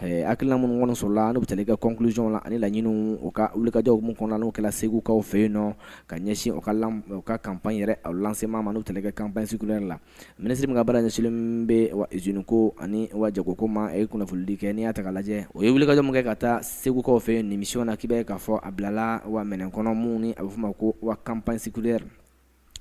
Hakilina minnu kɔni sɔrɔla n'u bɛ tali kɛ conclusion la ani laɲini u ka wulikajɔw minnu kɔnɔ n'u kɛra segukaw fɛ yen nɔ ka ɲɛsin u ka u ka campagne yɛrɛ lancement ma n'u bɛ tali kɛ campagne sucrière la ministre min ka baara ɲɛsinnen bɛ wa usine ko ani wa jagoko ma a ye kunnafonidi kɛ n'i y'a ta k'a lajɛ o ye wulikajɔ min kɛ ka taa segukaw fɛ yen nin mission na k'i b'a ye k'a fɔ a bilala wa minɛn kɔnɔ min ni a bɛ fɔ ma ko wa campagne sucrière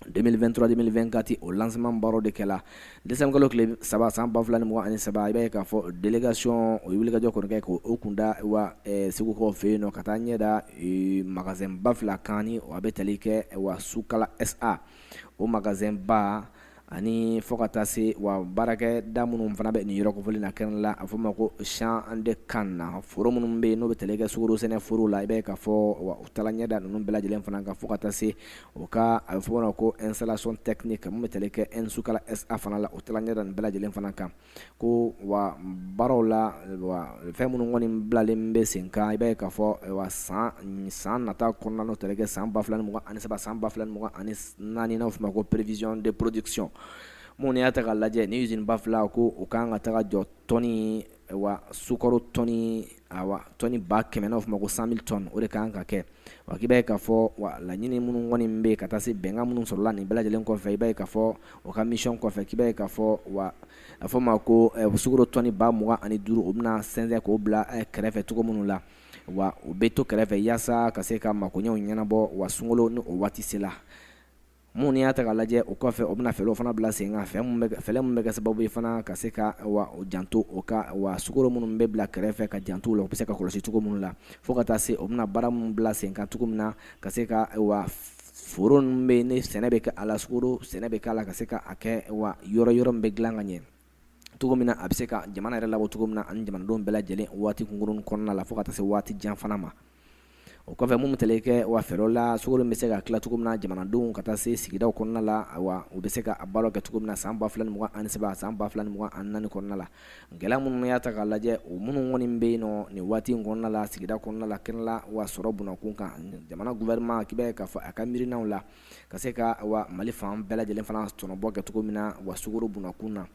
2023-2024 o lancement baaraw de kɛla décembre kalo tile saba san ba fila ni mugan ani saba i b'a ye k'a fɔ délégation o ye wulikajɔ kɔni kɛ k'o kun da wa eh, segukaw fɛ yen nɔ ka taa ɲɛ da eh, magasin ba fila kan ni a bɛ tali kɛ wa Sukala SA o magasin ba ani fo ka taa se wa baarakɛ da minnu fana bɛ nin yɔrɔ kofɔli na kɛnɛ la a fɔ ma ko champ de canne na foro minnu bɛ yen n'o bɛ tali kɛ sukoro sɛnɛ foro la i b'a ye k'a fɔ wa u taala ɲɛ da ninnu bɛɛ lajɛlen fana kan fo ka taa se o ka a bɛ fɔ ma ko installation technique min bɛ tali kɛ N-Sukala SA fana la o taala ɲɛ da nin bɛɛ lajɛlen fana kan ko wa baaraw la wa fɛn minnu kɔni bilalen bɛ sen kan i b'a ye k'a fɔ wa san san nata kɔnɔna n'o bɛ tali kɛ san ba fila ni mugan ani saba san ba fila ni mugan ani naani n'a fɔ ma ko prévision de production minnu y'a ta k'a lajɛ ni usine ba fila ko u ka kan ka taga jɔ tɔni wa sukaro tɔni wa tɔni ba kɛmɛ n'a fɔ ma ko cent mille tonnes o de ka kan ka kɛ wa k'i b'a ye k'a fɔ wa laɲini minnu kɔni bɛ ka taa se bɛnkan minnu sɔrɔla nin bɛɛ lajɛlen kɔfɛ i b'a ye k'a fɔ o ka mission kɔfɛ k'i b'a ye k'a fɔ wa a fɔ ma ko sukaro tɔni ba mugan ani duuru o bɛna sɛnsɛn k'o bila kɛrɛfɛ cogo minnu la wa u bɛ to kɛrɛfɛ yaasa ka se ka makoɲɛw ɲɛnabɔ wa sunkalo ni o waati sela Mun y'a ta k'a lajɛ o kɔfɛ o bɛna fɛɛrɛw fana bila sen kan fɛn fɛlɛ min bɛ kɛ sababu ye fana ka se ka wa janto o ka wa sukaro minnu bɛ bila kɛrɛfɛ ka janto la u bɛ se ka kɔlɔsi cogo minnu la fo ka taa se o bɛna baara minnu bila sen kan cogo min na ka se ka wa foro ninnu bɛ ni sɛnɛ bɛ kɛ a la sukaro sɛnɛ bɛ k'a la ka se ka a kɛ wa yɔrɔ yɔrɔ min bɛ dilan ka ɲɛ cogo min na a bɛ se ka jamana yɛrɛ labɔ cogo min na ani jamanadenw bɛɛ lajɛlen waati kunkurunnin kɔnɔna la fo ka taa se waati jan fana ma o kɔfɛ minnu bɛ tali kɛ wa fɛɛrɛw la sukoro bɛ se ka tila cogo min na jamanadenw ka taa se sigidaw kɔnɔna la wa u bɛ se ka baara kɛ cogo min na san ba fila ni mugan ani saba san ba fila ni mugan ani naani kɔnɔna la gɛlɛya minnu y'a ta k'a lajɛ o minnu kɔni bɛ yen nɔ nin waati in kɔnɔna la sigida kɔnɔna la kɛnɛ la wa sɔrɔ bunnakun kan jamana gouvernement k'i b'a ye k'a fɔ a ka miirinaw la ka se ka wa mali fan bɛɛ lajɛlen fana tɔnɔbɔ kɛ cogo min na wa sukaro bunnakun na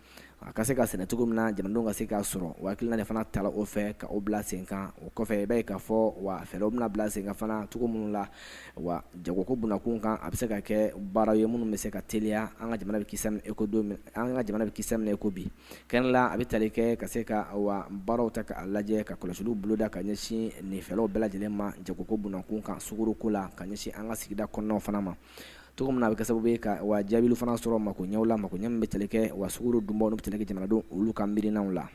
a ka se ka sɛnɛ cogo min na jamanadenw ka se k'a sɔrɔ o hakilina de fana tala o fɛ ka o bila sen kan o kɔfɛ i b'a ye k'a fɔ wa fɛɛrɛw bɛna bila sen kan fana cogo minnu la wa jagoko bunnakun kan a bɛ se ka kɛ baara ye minnu bɛ se ka teliya an ka jamana bɛ ki e ko don an ka jamana bɛ ki minɛ i ko bi kɛnɛ la a bɛ tali kɛ ka se ka wa baaraw ta k'a lajɛ ka kɔlɔsiliw boloda ka ɲɛsin nin fɛlaw bɛɛ lajɛlen ma jagoko bunnakun kan sukaro ko la ka ɲɛsin an ka sigida kɔnɔnaw fana ma cogo min na a bɛ kɛ sababu ye ka wa jaabilu fana sɔrɔ makoɲɛw la makoɲɛ min bɛ tali kɛ wa sukaro dunbaw n'u bɛ tali kɛ jamanadenw olu ka miirinaw la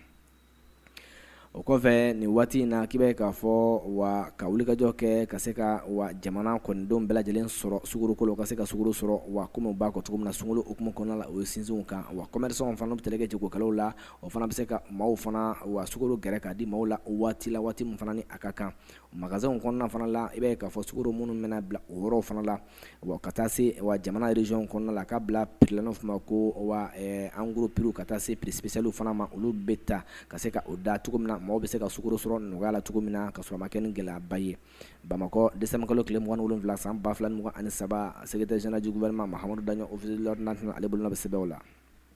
o kɔfɛ nin waati in na k'i b'a ye k'a fɔ wa ka wulikajɔ kɛ ka se ka wa jamana kɔnɔdenw bɛɛ lajɛlen sɔrɔ sukaro ko la ka se ka sukaro sɔrɔ wa kɔmi b'a kɔ cogo min na sunkalo hukumu kɔnɔna la u ye sinsin o kan wa commerçants fana n'o bɛ tali kɛ jagokɛlaw la o fana bɛ se ka maaw fana wa sukaro gɛrɛ k'a di maaw la waati la waati min fana ni a ka kan Magasinw kɔnɔna fana la i b'a ye k'a fɔ sukaro minnu bɛna bila o yɔrɔw fana la wa ka taa se wa jamana régionw kɔnɔna la k'a bila prix la n'o fɔ ma ko wa en gros prix ka taa se prix spécial fana ma olu bɛ ta ka se ka o da cogo min na maaw bɛ se ka sukaro sɔrɔ nɔgɔya la cogo min na ka sɔrɔ a ma kɛ ni gɛlɛyaba ye bamakɔ desanburukalo tile 27 san 2023 secrétaire général du gouvernement Mahamadou Daɲɔ officier de l'ordre national ale bolo bɛ sɛbɛnw la